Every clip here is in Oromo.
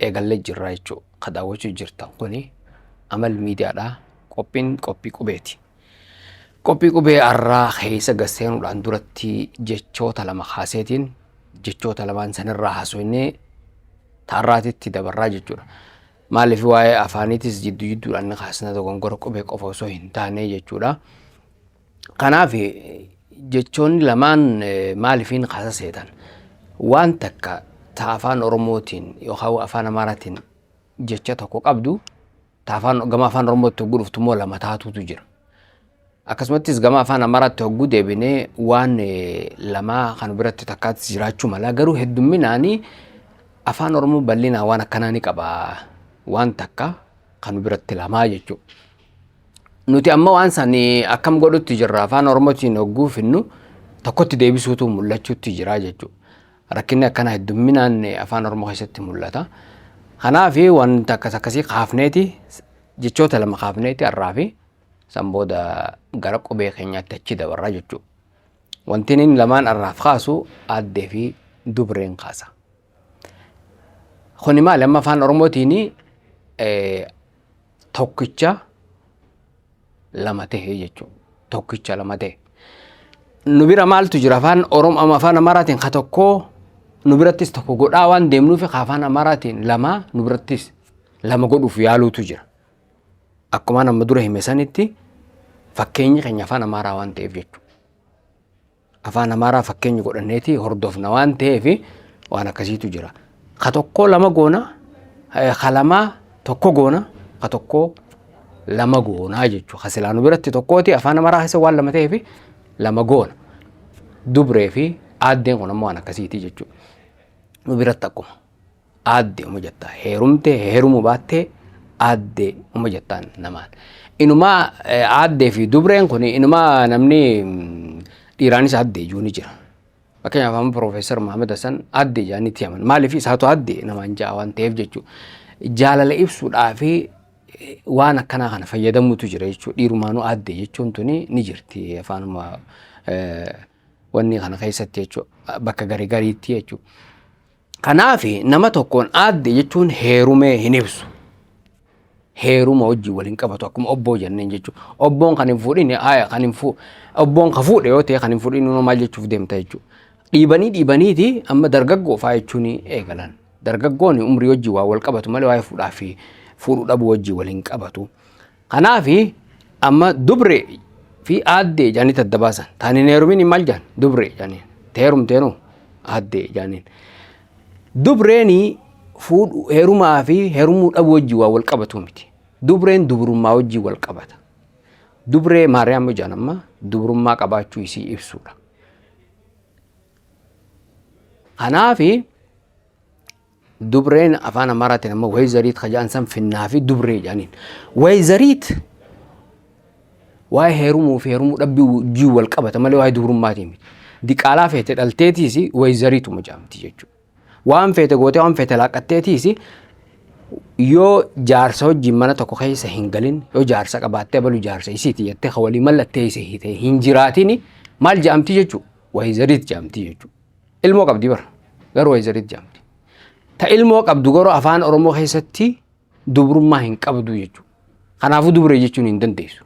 eegallee jirraa jechuu ka daawwachuu jirtan kuni amal miidiyaadhaa qophiin qophii qubeeti. Qophii qubee arraa keessa gasseenuudhaan duratti jechoota lama kaaseetiin jechoota lamaan sanirraa haasofnee taarraatitti dabarraa jechuudha. Maaliif waa'ee afaaniitis jidduu jidduudhaan ni kaasna dogongora qubee qofa osoo hin taane jechuudha. Kanaaf jechoonni lamaan maalifiin kasa seetan waan takka ta afaan Oromootiin yookaan afaan Amaaraatiin jecha tokko qabdu ta afaan gama afaan Oromootti hogguu dhuftu immoo lama taatuutu jira. Akkasumattis gama afaan Amaaraatti hogguu deebinee waan lamaa kan biratti takkaatti jiraachuu mala garuu heddumminaanii afaan Oromoo bal'inaa waan akkanaa ni qaba waan takka kan biratti lamaa jechuudha. Nuti amma waan san akkam godhutti jirra afaan Oromootiin hogguu finnu tokkotti deebisuutu mul'achuutti jira jechuudha. Rakkinni akkana heddumminaan afaan Oromoo keessatti mul'ata. Kanaaf wanta akkas akkasii kaafneeti jechoota lama kaafneeti har'aa fi san booda gara qubee keenyaatti achi dabarra jechuudha. Wantiin inni lamaan har'aaf kaasu aaddee fi dubreen kaasa. Kuni maali amma afaan Oromootiin tokkicha lama ta'e jechuudha. Tokkicha lama ta'e. Nu bira maaltu jira afaan Oromoo amma afaan Amaaraatiin ka tokkoo nu birattis tokko godhaa waan deemnuuf ka afaan Amaaraatiin lama nu birattis lama godhuuf yaaluutu jira. Akkuma amma dura hime sanitti fakkeenyi keenya afaan Amaaraa waan ta'eef jechuudha. Afaan Amaaraa fakkeenya godhanneeti hordofna waan ta'eef waan akkasiitu jira. Ka tokkoo lama goona, ka lamaa tokko goona, ka tokkoo lama goonaa jechuudha. Ka silaanu biratti tokkooti afaan Amaaraa keessa waan lama ta'eef lama goona. Dubree fi aaddeen kun ammoo waan akkasiiti jechuudha. Nu biratti akkuma. Aadde uma jettaa heerumte heerumu baattee aadde uma jettaan namaan. Inumaa aaddee fi dubreen kun inumaa namni dhiiraanis aadde iyyuu ni jira. Fakkeenyaaf amma Piroofeesar Mahamad Hassan aadde ijaanii itti himan. Maaliif isaatu aadde namaan ja'a waan ta'eef jechuudha. Jaalala ibsuudhaa fi waan akkanaa kana fayyadamuutu jira jechuudha. Dhiirumaanuu aadde jechuun tuni ni jirti afaanuma wanni kana keessatti jechuudha. Bakka garii gariitti jechuudha. Kanaaf nama tokkoon aadde jechuun heerumee hin ibsu. Heeruma wajjin wal hin qabatu akkuma obboo jenneen jechuudha. Obboon kan hin fuudhine aaya kan hin fuu obboon ka fuudhe yoo ta'e kan hin fuudhin immoo maal jechuuf deemta jechuudha. Dhiibanii dhiibaniiti amma dargaggoo fa'aa jechuun eegalan. Dargaggoon umrii wajjin waa wal qabatu malee waa'ee fuudhaa fi fuudhuu dhabuu wajjin wal hin qabatu. Kanaafi amma dubre fi aaddee jaanitti adda baasan. Taani neerumin maal jaan? Dubre jaaniin. Teerumteenoo aaddee jaaniin. Dubreeni fuudhu heerumaa fi heerumuu dhabuu wajjin waa wal qabatu miti. Dubreen dubrummaa wajjin wal qabata. Dubree Maariyaam ijaan amma dubrummaa qabaachuu isii ibsuudha. Kanaafi Dubreen afaan Amaaraatiin ammoo Wayzariit ka jedhan san finnaa fi dubree jedhaniin. Wayzariit waa'ee heerumuu fi heerumuu dhabbii wajjin wal qabata malee waa'ee dubrummaatiin miti. Diqaalaa feete dhalteetiis wayzariituma jedhamti jechuudha. Waan feete gootee waan feete laaqqatteetiis yoo jaarsa wajjin mana tokko keessa hin galin yoo jaarsa qabaattee balu jaarsa isiiti jettee ka walii mallatteesse hiitee hin jiraatini maal jedhamti jechuudha? Wayzariit jedhamti jechuudha. Ilmoo qabdi bar garuu wayzarit jedhamti. Ta ilmoo qabdu garuu afaan Oromoo keessatti dubrummaa hin qabdu jechuudha. Kanaafuu dubree jechuun hin dandeessu.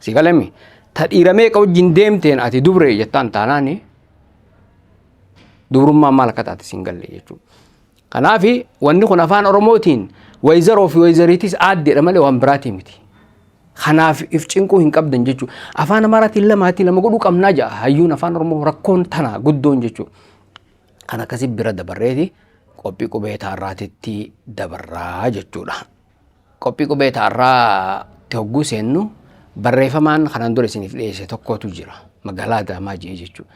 Si galame ta dhiira meeqa wajjin deemteen ati dubree jettaan taanaani dubrummaa maal akka taate siin galle jechuudha. Kanaaf wanni kun afaan Oromootiin wayzaroo fi wayzariitis aaddeedha malee waan biraatii miti. Kanaaf if cinquu hin qabdan jechuudha. Afaan Amaaraatiin lamaatii lama godhuu qabnaa ja'a. Hayyuun afaan Oromoo rakkoon tanaa guddoon jechuudha. Kan akkasii bira dabarreeti qophii qubee taarraatitti dabarraa jechuudha. Qophii qubee taarraatti hogguu seennu barreeffamaan kanaan dura isiniif dhiyeesse tokkotu jira. Magaalaa Adaamaa jee jechuudha.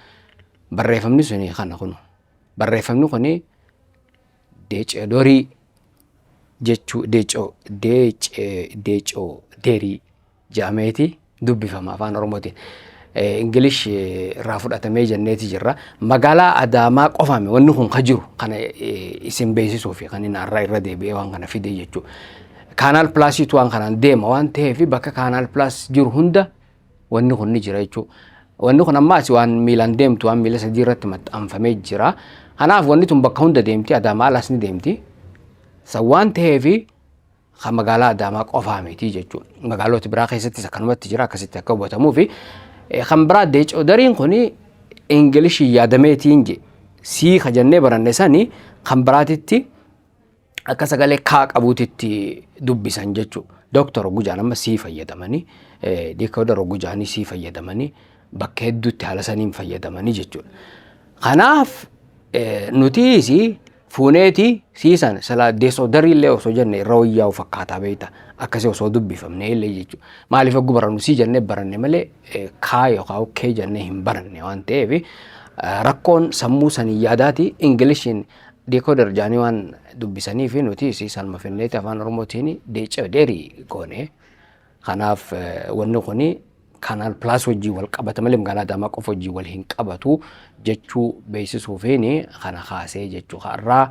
Barreeffamni suni kana kunu. Barreeffamni kun deeceedorii jechuu deecoo deecee deecoo derii jedhameeti dubbifama afaan oromootiin. Ingilish irraa fudhatamee jenneeti jirra. Magaalaa Adaamaa qofaame wanni kun ka jiru kana isin beeksisuu fi kan inni har'a irra deebi'ee waan kana fidee jechuudha. Kaanaal pilaasiitu waan kanaan deema waan ta'eef bakka kaanaal pilaas jiru hunda Wanni kun ni jira jechuudha. Wanni kun amma asi waan miilaan deemtu waan miila sadii irratti maxxanfamee jira. Kanaaf wanni tun bakka hunda deemti Adaamaa alaas ni deemti. San waan ta'eef kan magaalaa Adaamaa qofaa miti jechuudha. Magaalota biraa keessattis akkanumatti jira akkasitti akka hubatamuuf. Kan biraa deecoodariin kun Ingilishii yaadameetiin je sii ka jennee baranne sani kan biraatitti akka sagalee kaa qabuutitti dubbisan jechuu dooktar Ogujaan amma sii fayyadamanii deekoodar Ogujaanii sii fayyadamanii bakka hedduutti haala saniin fayyadamanii jechuudha. Kanaaf nutiisi fuuneeti sii sana silaa deesoodarii illee osoo jenne irra wayyaa'u fakkaataa beekta akkasii osoo dubbifamne illee jechuudha. Maaliif oggu barannu sii jennee baranne malee kaa yookaan kee jennee hin baranne waan ta'eef rakkoon sammuu sanii yaadaati Ingilishiin Decoder jaanii waan dubbisaniif nutis salma finneeti afaan oromootiin decoderii goone. Kanaaf wanni kun kanaan plus wajjin wal qabata malee magaalaa Adaamaa qofa wajjin wal hin qabatu jechuu beeksisuufiin kana kaasee jechuu har'aa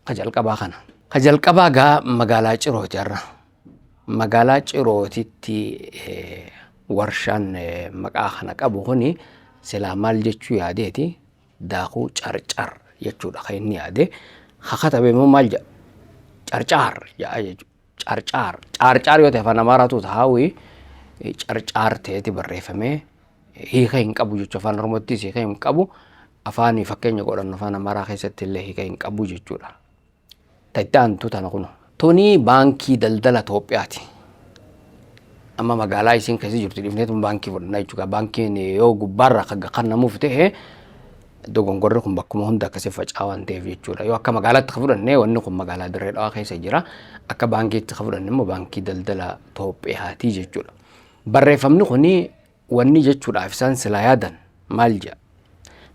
ka jalqabaa kana. Ka jalqabaa gaa magaalaa Cirooti har'a. Magaalaa Cirootitti warshaan maqaa kana qabu kun silaa maal jechuu yaadeeti daakuu carcar jechuudha kan inni yaade ha katabe immoo maal jedha carcaar jedha jechuudha carcaar caarcaar yoo ta'e afaan amaaraatu taa'uyi carcaar ta'eeti barreeffamee hiika hin qabu jechuudha afaan oromottis hiika hin qabu afaanii fakkeenya godhannu afaan amaaraa keessatti illee hiika hin qabu jechuudha. Ta itti aantu tana kuno. Tuni baankii daldala Itoophiyaati. Amma magaalaa isiin keessa jirtu dhifnee tun baankii fudhannaa jechuudha. Baankiin yoo gubbaarraa kan kannamuuf ta'e dogongorri kun bakkuma hunda akkasii faca'aa waan ta'eef jechuudha. Yoo akka magaalaatti kan fudhanne wanni kun magaalaa Dirree Dhawaa keessa jira. Akka baankiitti kan fudhanne immoo baankii daldala Itoophiyaati jechuudha. Barreeffamni kun wanni jechuudhaaf isaan silaa yaadan maal jedha?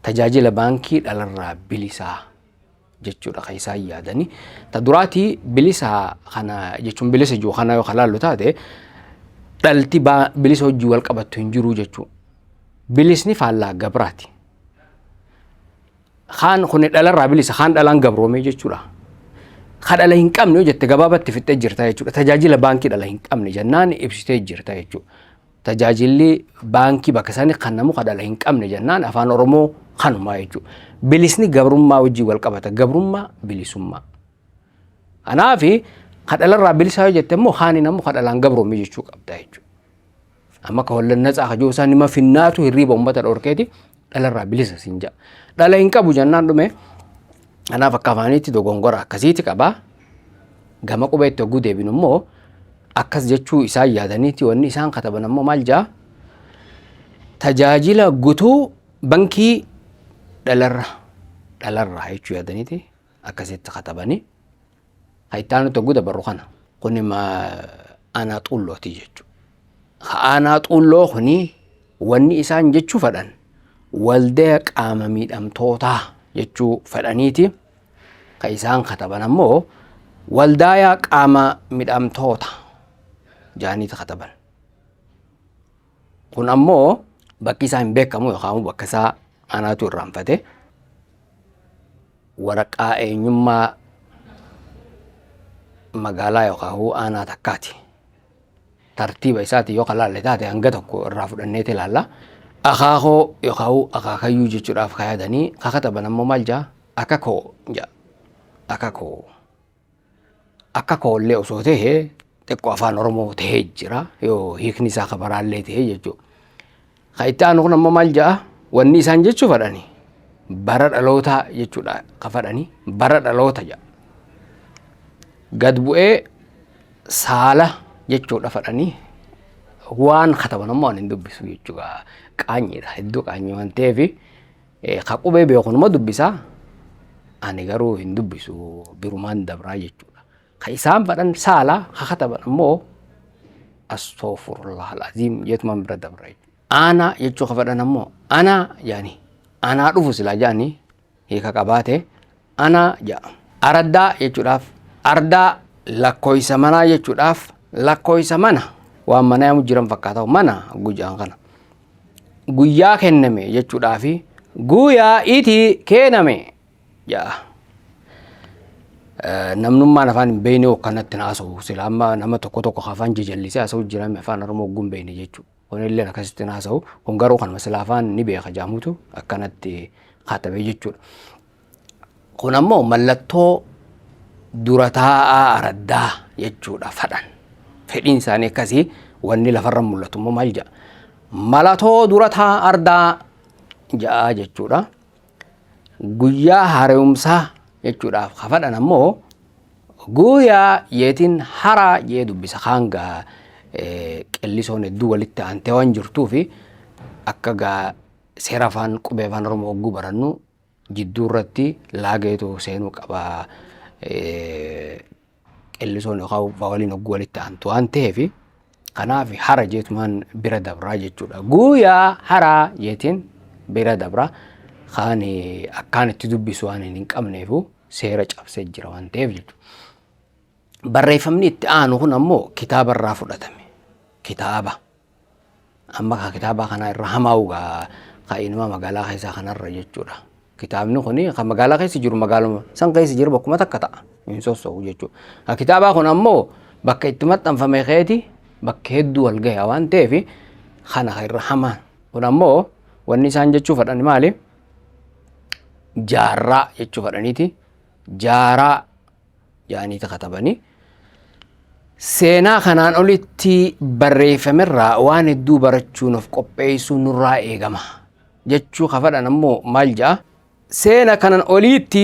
Tajaajila baankii dhalarraa bilisaa. jechuudha kan isaan yaadani. Ta duraati bilisa kana jechuun bilisa jiru kana yoo kalaallu taate dhalti bilisa hojii wal qabattu hin jiru jechuudha. Bilisni faallaa gabraati. Kaan kun dhalarraa bilisa kaan dhalaan gabroomee jechuudha. Ka dhala hin qabne yoo jette gabaabatti fixxee jirta jechuudha. Tajaajila baankii dhala hin qabne jennaan ibsitee jirta jechuudha. Tajaajilli baankii bakka isaanii kannamu ka dhala hin qabne jennaan afaan Oromoo kanumaa jechuudha. Bilisni gabrummaa wajjin wal qabata. Gabrummaa bilisummaa. Kanaaf ka dhalarraa bilisaa yoo jette immoo kaaniin ammoo ka dhalaan gabroome jechuu qabda jechuudha. Amma ka wallan natsaa ka jiru isaa nima finnaatu hirriiba uummata dhorkeeti dhalarraa bilisa siin ja'a. Dhala hin qabu jennaan dhume kanaaf akka afaaniitti dogongora akkasiiti qaba. Gama qubeetti hogguu deebinu immoo akkas jechuu isaan yaadaniiti wanni isaan kataban ammoo maal ja'a? Tajaajila gutuu bankii dhalarra dhalarraa jechuu yaadaniiti akkasitti katabanii. Ha itti aanutti hogguu dabarru kana. Kuni ma aanaa xuullootii jechuudha. Ha aanaa xuulloo kuni wanni isaan jechuu fedhan waldaya qaama miidhamtootaa jechuu fedhaniiti. Ka isaan kataban ammoo waldaayaa qaama midhamtoota jaaniiti kataban. Kun ammoo bakki isaa hin beekamu yookaan bakka isaa anaatu irraanfate waraqaa eenyummaa magaalaa yookaan aanaa takkaati. Tartiiba isaatiin yoo kalaalle taate hanga tokko irraa fudhanneeti ilaalla. Akaakoo yookaan akaakayyuu jechuudhaaf kaayatanii kakataban ammoo maal jaa akakoo jaa akakoo. akka koo illee osoo ta'e xiqqoo afaan Oromoo ta'ee jira yoo hiikni isaa ka baraa illee ta'e jechuudha. Ka itti aanu kun amma maal ja'a wanni isaan jechuu fadhani bara dhalootaa jechuudha ka fadhani bara dhaloota ja'a. Gad bu'ee saala jechuudha fadhani waan kataban ammoo ani hin dubbisu jechuudha qaanyiidha hedduu qaanyii waan ta'eefi Ka qubee beeku numa dubbisa, ani garuu hin dubbisu birumaan dabraa jechuudha. Ka isaan fadhan saala, ka kataban ammoo astoofurullah al'aziim jeetumaan bira dabra jechuudha. Aanaa jechuu ka fadhan ammoo anaa jaanii anaa dhufu silaa jaanii hiika qabaate. Anaa ja'a. Araddaa jechuudhaaf ardaa lakkooysa manaa jechuudhaaf lakkooysa mana waan mana yaamu jiran fakkaata mana gujaan kana. Guyyaa kenname jechuudhaafi guyaa iti keename ja'a. Namnummaan afaan hin beekne hokkanatti na haasa'u sila amma nama tokko tokko afaan jajallisee haasa'u jirame afaan oromoo oggun beekne jechuudha. Kunilleen akkasitti hin haasa'u. Kun garuu kanuma sila afaan ni beeka jaamutu akkanatti katabee jechuudha. Kun ammoo mallattoo dura taa'aa araddaa jechuudha fadhan. Fedhiin isaanii akkasii wanni lafarra mul'atu immoo maal jedha? Malatoo dura taa'aa ardaa ja'a jechuudha. Guyyaa hareumsaa jechuudhaaf kafadhan ammoo guuyaa jeetiin haraa jee dubbisa kaangaa qellisoon hedduu walitti aantee waan jirtuu fi akka gaa seera afaan qubee afaan oromoo hogguu barannu jidduu irratti laageetu seenuu qaba qellisoon yookaan vawaliin hogguu walitti aantu waan ta'eef kanaaf hara jeetumaan bira dabraa jechuudha. Guuyaa haraa jeetiin bira dabraa kaan akkaan itti dubbisu waan hin qabneefu seera cabsee jira waan ta'eef jechuudha. Barreeffamni itti aanu kun ammoo kitaaba irraa fudhatame. Kitaaba. Amma kaa kitaabaa kanaa irra hamaa'u gaa kaa inuma magaalaa keessaa kanarra jechuudha. Kitaabni kun kan magaalaa keessa jiru magaaluma san keessa jiru bakkuma takka ta'a hin sosso'u jechuudha. Kan kitaabaa kun ammoo bakka itti maxxanfame keeti bakka hedduu wal gahe waan ta'eef kana kan irra hamaan kun ammoo wanni isaan jechuu fedhan maali? Jaarraa jechuu fedhaniiti. Jaaraa yaaniiti katabanii seenaa kanaan olitti barreeffamerraa waan hedduu barachuun of qopheessuu nurraa eegama jechuu kafadhan ammoo maal ja'a seena kanan oliitti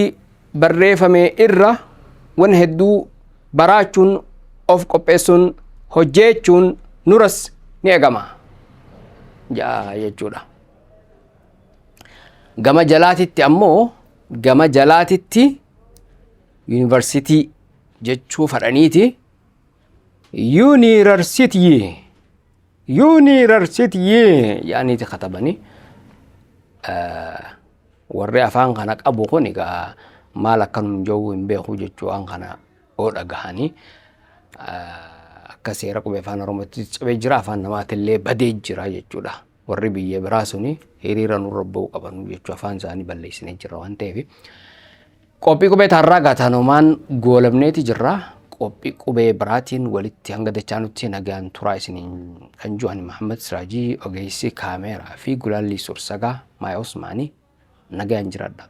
barreeffame irra wan hedduu baraachuun of qopheessuun hojjeechuun nuras ni eegama ja'a jechuudha. Gama jalaatitti ammoo gama jalaatitti yuunivarsitii jechuu fadhaniiti yuunivarsitii yuunivarsitii yaaniiti katabanii warri afaan kana qabu kun egaa maal akka nun jawuu hin beeku jechuu waan kana oo dhagahanii akka seera qubee afaan oromootti cabee jira afaan namaatillee badee jira jechuudha. warri biyya biraa suni hiriira nurra ba'uu qabanu jechuu afaan isaanii balleessinee jirra waan ta'eef qophii qubee taarraa gaatanomaan goolabneeti jirra qophii qubee biraatiin walitti hanga dachaa nutti nagaan turaa isiniin kan ju'an Mahammad Siraajii ogeessi kaameeraa fi gulaallii sursagaa Maaya Usmaanii nagaan jiradha.